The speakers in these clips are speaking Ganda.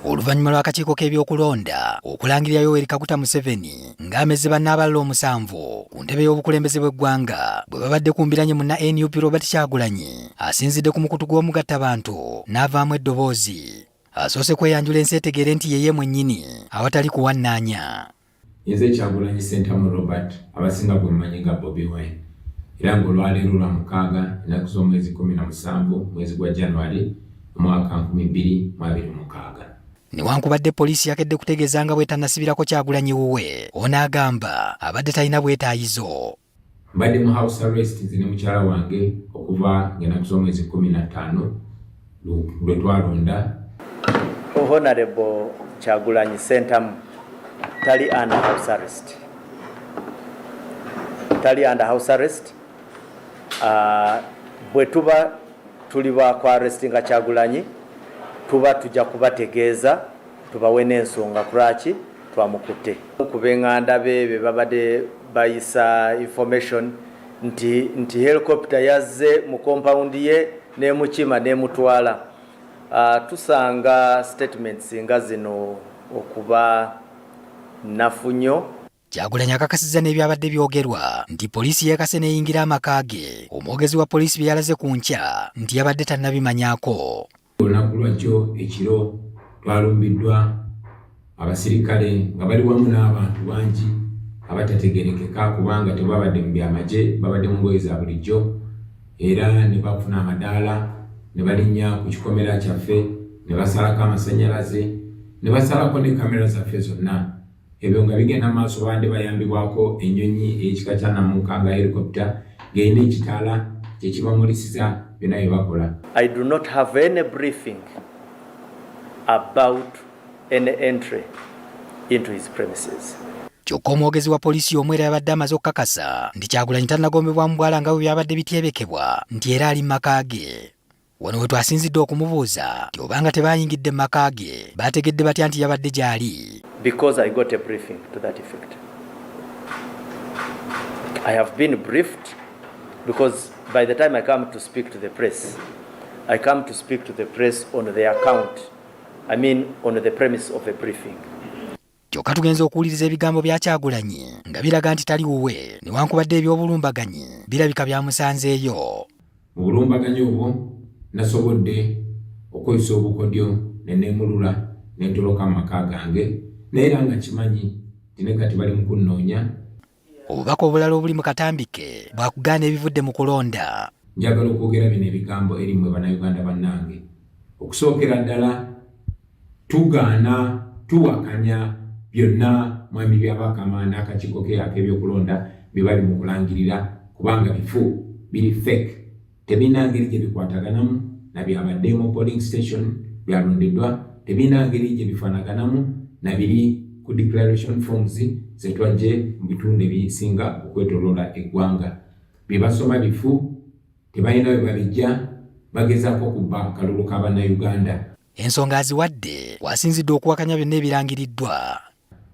Oluvannyuma lw'akakiiko k'ebyokulonda okulangirira Yoweri Kaguta Museveni ng'amezze banne abalala omusanvu ku ntebe y'obukulembeze bw'eggwanga bwe babadde ku mbiranye munna nup Robert Kyagulanyi asinzidde ku mukutu gw'omugatta bantu n'avaamu eddoboozi asoose kweyanjula ensi etegeere nti yeye mwennyini awatali kuwannaanya Nze Kyagulanyi Ssentamu Robert abasinga gwe mumanyi nga Bobi Wine era nga olwaleero lwa mukaaga ennaku z'omwezi kkumi na musanvu mwezi gwa January omwaka nkumi bbiri mu abiri mukaaga. Newankubadde poliisi yakedde kutegeeza nga bwetanasibirako Kyagulanyi wuwe, ono agamba abadde talina bwetaayizo. mbadde mu house arrest nze ne mukyala wange okuva ngenaku z'omwezi kumi na ttaano lwe twalonda honorable kyagulanyi sentamu tali under house arrest tali under house arrest uh, bwe tuba tuli ba ku arrestinga kyagulanyi tuba tujja kubategeeza tubawe n'ensonga kulwaki twamukutte ku benganda be be babadde bayisa information nti nti helicopter yazze mu compound ye n'emukima n'emutwala uh, tusanga statements nga zino okuba nnafu nnyo Kyagulanyi akakasizza n'ebyabadde byogerwa nti poliisi yeekase n'eyingira amaka ge omwogezi wa poliisi bye yalaze ku nkya nti yabadde tannabimanyako olunaku lwakyo ekiro twalumbiddwa abasirikale nga bali wamu n'abantu bangi abatategerekeka kubanga tebabadde mu byamagye babadde mu ngoye za bulijjo era ne bafuna amadaala ne balinnya ku kikomera kyaffe ne basalako amasannyalaze ne basalako ne kamera zaffe zonna Ebyo nga bigenda mu maaso babadde bayambibwako ennyonyi ey'ekika kya Namuka nga helicopter ng'erina ekitaala kye kibamulisiza byonna bye bakola. I do not have any briefing about any entry into his premises. Kyokka omwogezi wa poliisi y'omu era yabadde amaze okukakasa nti Kyagulanyi tannagombebwa mu bwala nga bwe byabadde bityebekebwa nti era ali mu maka ge. Wano we twasinzidde okumubuuza nti obanga tebayingidde mu maka ge baategedde batya nti yabadde gy'ali. Because I got a briefing to that effect. I have been briefed because by the time I come to speak to the press, I come to speak to the press on the account, I mean on the premise of a briefing. kyokka tugenze okuwuliriza ebigambo bya Kyagulanyi nga biraga nti tali wuwe newankubadde eby'obulumbaganyi birabika byamusanzeeyo. Mu bulumbaganyi obwo nasobodde okweyisa obukodyo ne neemulula ne ntoloka mu maka gange naye era nga nkimanyi nti ne kati bali mu kunnoonya. Obubaka obulala obuli mu katambi ke bwakugaana ebivudde mu kulonda. Njagala okwogera bino ebigambo eri mmwe Bannayuganda bannange. Okusookera ddala tugaana, tuwakanya byonna Mwami Byabakama n'akakiiko ke ak'ebyokulonda bye bali mu kulangirira kubanga bifu, biri fake. tebirina ngeri gye bikwataganamu na byabadde mu polling station byalondeddwa, tebirina ngeri gye bifaanaganamu na biri ku declaration forms ze twajje mu bitundu ebisinga okwetoloola eggwanga. Bye basoma bifu, tebalina we babijja, bagezaako kubba kalulu ka Bannayuganda. Ensonga aziwadde wasinzidde okuwakanya byonna ebirangiriddwa.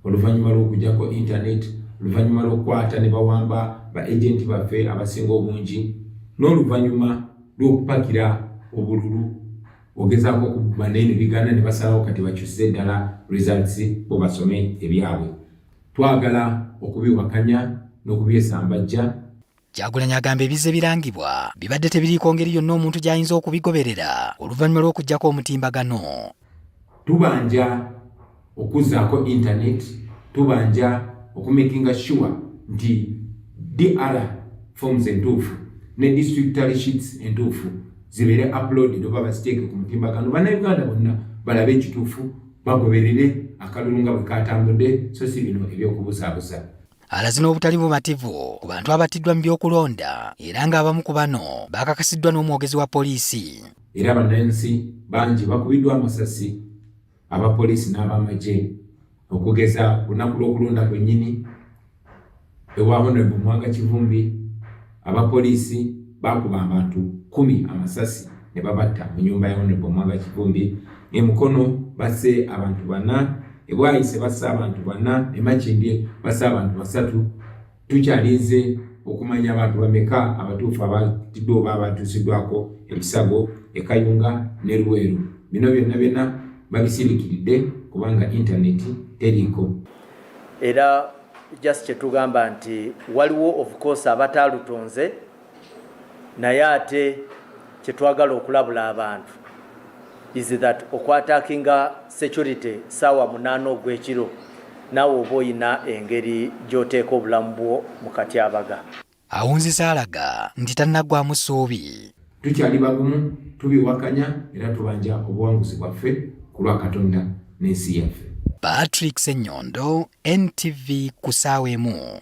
Oluvannyuma lw'okugyako intaneti, oluvannyuma lw'okukwata ne bawamba ba agenti baffe abasinga obungi, n'oluvannyuma lw'okupakira obululu ogezaako okubba naye ne bigaana ne basalawo kati bakyusize ddala results bo basome ebyabwe. Twagala okubiwakanya n'okubyesambajja. Kyagulanyi agamba ebizze birangibwa bibadde tebiriiko ngeri yonna omuntu gy'ayinza okubigoberera oluvannyuma lw'okuggyako omutimbagano. Tubanja okuzzaako internet, tubanja okumakinga sure nti DR forms entuufu ne district tally sheets entuufu zibeere uploaded oba baziteeke ku mutimbagano bannayuganda bonna balabe ekituufu bagoberere akalulu nga bwe kaatambudde so si bino eby'okubuzaabuza. alaze n'obutali bumativu ku bantu abattiddwa mu by'okulonda era ng'abamu ku bano baakakasiddwa n'omwogezi wa poliisi era bannansi bangi bakubiddwa amasasi aba poliisi n'abamagye okugeza olunaku lw'okulonda kwennyini ewa honorable mwanga kivumbi Abapoliisi baakuba abantu kkumi amasasi ne babatta mu nyumba ya Honorable Mwanga Kivumbi e Mukono basse abantu bana e Bwaise basse abantu bana e Makindye basse abantu basatu tukyalinze okumanya abantu bameka abatuufu abatiddwa oba abatuusiddwako ebisago e Kayunga ne Luweero bino byonna byonna babisirikiridde kubanga intaneti teriiko. era just kyetugamba nti waliwo of course abataalutonze naye ate kyetwagala okulabula abantu is that okwatakinga security saawa munaana ogw'ekiro naawe oba olina engeri gy'oteeka obulamu bwo mu katyabaga awunziza alaga nti tannaggwamu ssuubi tukyali bagumu tubiwakanya era tubanja obuwanguzi bwaffe ku lwa katonda n'ensi yaffe patrick senyondo ntv ku saawa emu